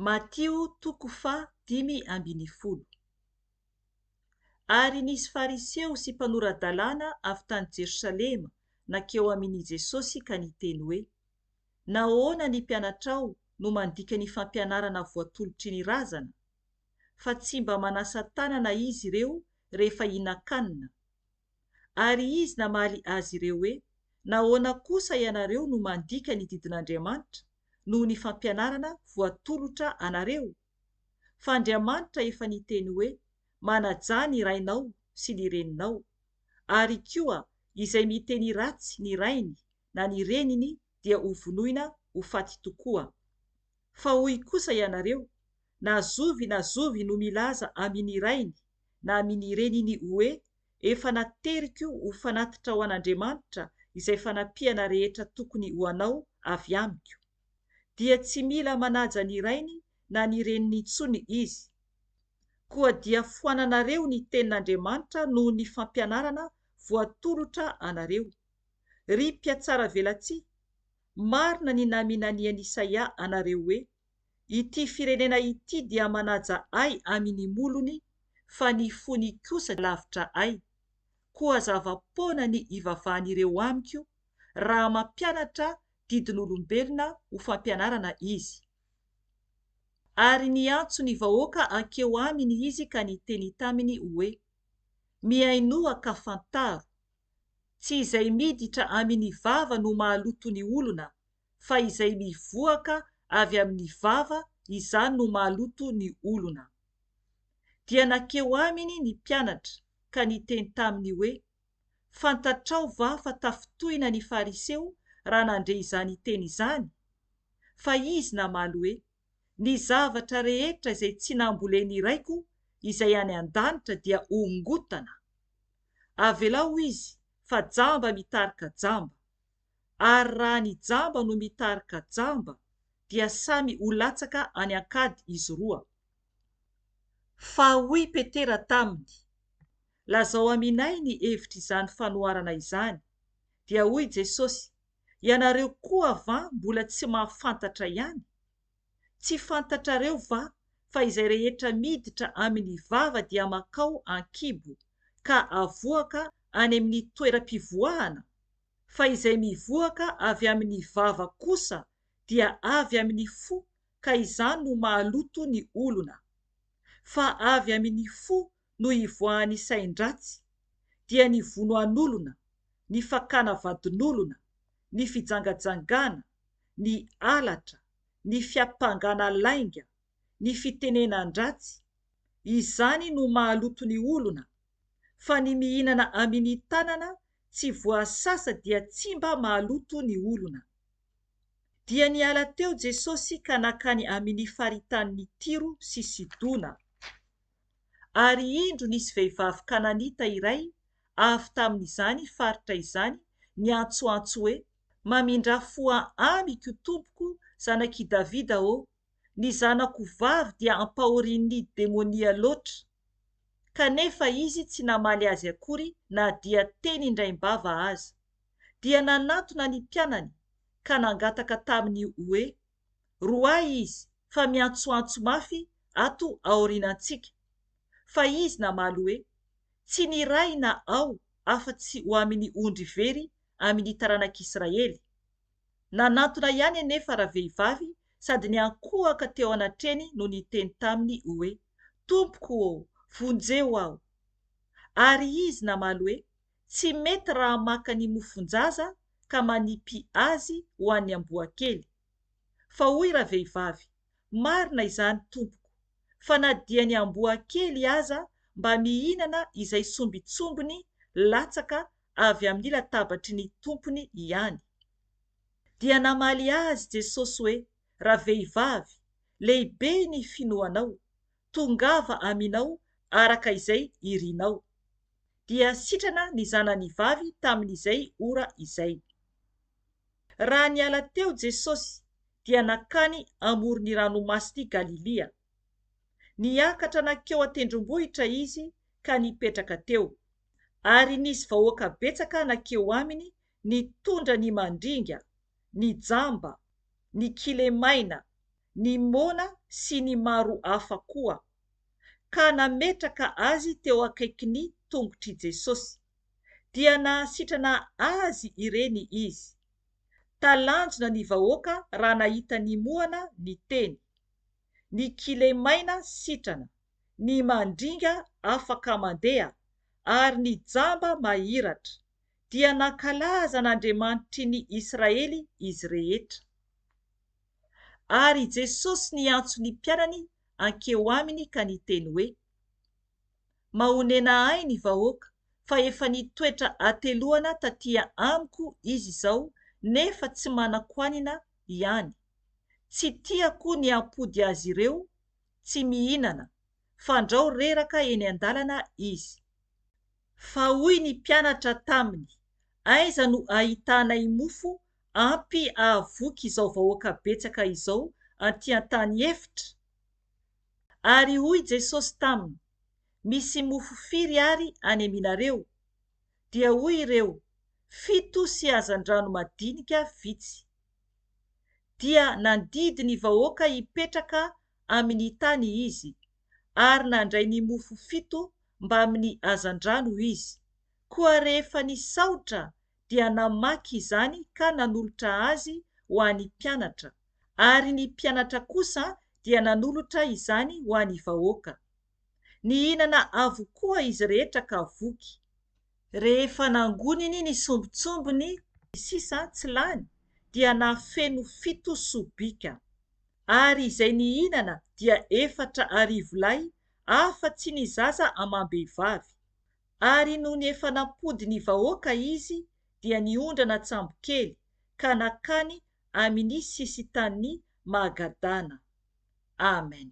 Matio toko faha dimy ambin'ny folo Ary nisy Fariseo sy mpanora-dalàna avy tany Jerosalema nankeo amin' i Jesosy ka niteny hoe, Nahoana ny mpianatrao no mandika ny fampianarana voatolotry ny razana? Fa tsy mba manasa tanana izy ireo rehefa hihinan-kanina. Ary izy namaly azy ireo hoe, Nahoana kosa ianareo no mandika ny didin'Andriamanitra noho ny fampianarana voatolotra anareo? Fa Andriamanitra efa niteny hoe, Manajà ny rainao sy ny reninao. Ary koa, izay miteny ratsy ny rainy na ny reniny dia ho vonoina ho faty tokoa. Fa hoy kosa ianareo, Na zovy na zovy no milaza amin' ny rainy na amin' ny reniny hoe, Efa nateriko ho fanatitra ho an' Andriamanitra izay fanampiana rehetra tokony ho anao avy amiko, dia tsy mila manaja ny rainy na ny reniny intsony izy. Koa dia foananareo ny tenin' Andriamanitra noho ny fampianarana voatolotra anareo. Ry mpiatsaravelatsihy, marina ny naminanian'i Isaia anareo hoe, Ity firenena ity dia manaja ahy amin'ny molony, fa ny fony kosa lavitra ahy. Koa zava-poana ny ivavahan'ireo amiko, raha mampianatra didin'olombelona ho fampianarana izy. Ary niantso ny vahoaka hankeo aminy izy ka niteny taminy hoe, Mihainoa ka fantaro. Tsy izay miditra amy ny vava no mahaloto ny olona, fa izay mivoaka avy amy ny vava, izany no mahaloto ny olona. Dia nakeo Aminy ny mpianatra ka niteny taminy hoe, Fantatrao va fa tafintohina ny Fariseo raha nandre izany teny izany? Fa Izy namaly hoe, Ny zavatra rehetra izay tsy nambolen'ny Raiko izay any an-danitra dia hongotana. Avelao izy fa jamba mitarika jamba. Ary raha ny jamba no mitarika jamba dia samy ho latsaka any an-kady izy roa. Fa hoy Petera taminy, Lazao aminay ny hevitr'izany fanoharana izany. Dia hoy Jesosy, Ianareo koa va mbola tsy mahafantatra ihany? Tsy fantatrareo va fa izay rehetra miditra amin'ny vava dia makao an-kibo ka avoaka any amin'ny toeram-pivoahana, fa izay mivoaka avy amin'ny vava kosa dia avy amin'ny fo ka izany no mahaloto ny olona. Fa avy amin'ny fo no ivoahan'ny sain-dratsy, dia ny vonoan'olona, ny fakana vadin'olona, ny fijangajangana, ny halatra, ny fiampangana lainga, ny fitenenan-dratsy, izany no mahaloto ny olona, fa ny mihinana amini tanana tsy voasasa dia tsy mba mahaloto ny olona. Dia niala teo Jesosy ka nakany amini faritanin'i Tiro sy Sidona. Ary indro nisy vehivavy kananita iray avy tamin'izany faritra izany niantsoantso hoe, Mamindrà fo amiko, tompoko, zanak'i Davida ô! Ny zanako vavy dia ampahorian'ny demonia loatra. Kanefa izy tsy namaly azy akory na dia teny indraim-bava aza. Dia nanatona ny mpianany, ka nangataka taminy hoe, Roahy izy fa miantsoantso mafy ato aorianantsika, fa izy namaly hoe, Tsy ny Ray na Aho afa-tsy ho amin'ny ondry very amin'ny taranak'Israely. Nanantona ihany anefa ravehivavy sady niankohoka teo anatreny no niteny taminy hoe, Tompoko ô, vonjeo aho! Ary izy namaly hoe, Tsy mety raha maka ny mofon-jaza ka manipy azy ho an'ny amboa kely. Fa hoy ravehivavy, Marina izany tompoko, fa na dia ny amboa kely aza mba mihinana izay sombintsombiny latsaka avy amin'ny latabatry ny tompony ihany. Dia namaly azy Jesosy hoe, Ravehivavy, lehibe ny finoanao, tongava aminao araka izay irinao. Dia sitrana ny zanany vavy tamin'izay ora izay. Raha niala teo Jesosy dia nankany amoron'ny ranomasin'i Galilia. Niakatra nankeo an-tendrombohitra izy ka nipetraka teo, ary nisy vahoaka betsaka nankeo aminy nitondra ny mandringa, ny jamba, ny kilemaina, ny moana sy ny maro hafa koa, ka nametraka azy teo akaikin'ny tongotr'i Jesosy, dia nahasitrana azy ireny izy. Talanjona ny vahoaka raha nahita ny moana niteny, ny kilemaina sitrana, ny mandringa afaka mandeha, ary ny jamba mahiratra, dia nankalaza an'Andriamanitry ny Israely izy rehetra. Ary i Jesosy niantso ny mpianany hankeo aminy ka niteny hoe, Mahonena ahy ny vahoaka, fa efa nitoetra hateloana taty amiko izy izao nefa tsy manan-kohanina ihany. Tsy tiako ny hampody azy ireo tsy mihinana, fandrao reraka eny an-dalana izy. Fa hoy ny mpianatra taminy, Aiza no ahitanay mofo ampy ahavoky izao vahoaka betsaka izao anty an-tany efitra? Ary hoy Jesosy taminy, Misy mofo firy ary any aminareo? Dia hoy ireo, Fito sy hazandrano madinika vitsy. Dia nandidy ny vahoaka hipetraka amin'ny tany Izy, ary nandray ny mofo fito mbamin'ny hazandrano Izy. Koa rehefa nisaotra dia namaky izany ka nanolotra azy ho an'ny mpianatra, ary ny mpianatra kosa dia nanolotra izany ho an'ny vahoaka. Nihinana avokoa izy rehetra ka voky. Rehefa nangoniny ny sombintsombiny sisa tsy lany, dia nahafeno fito sobika. Ary izay nihinana dia efatra arivo lahy, afa-tsy ny zaza amam-behivavy. Ary nony efa nampody ny vahoaka izy dia niondrana an-tsambokely ka nakany amini sisin-tanin' i Magadana. Amen.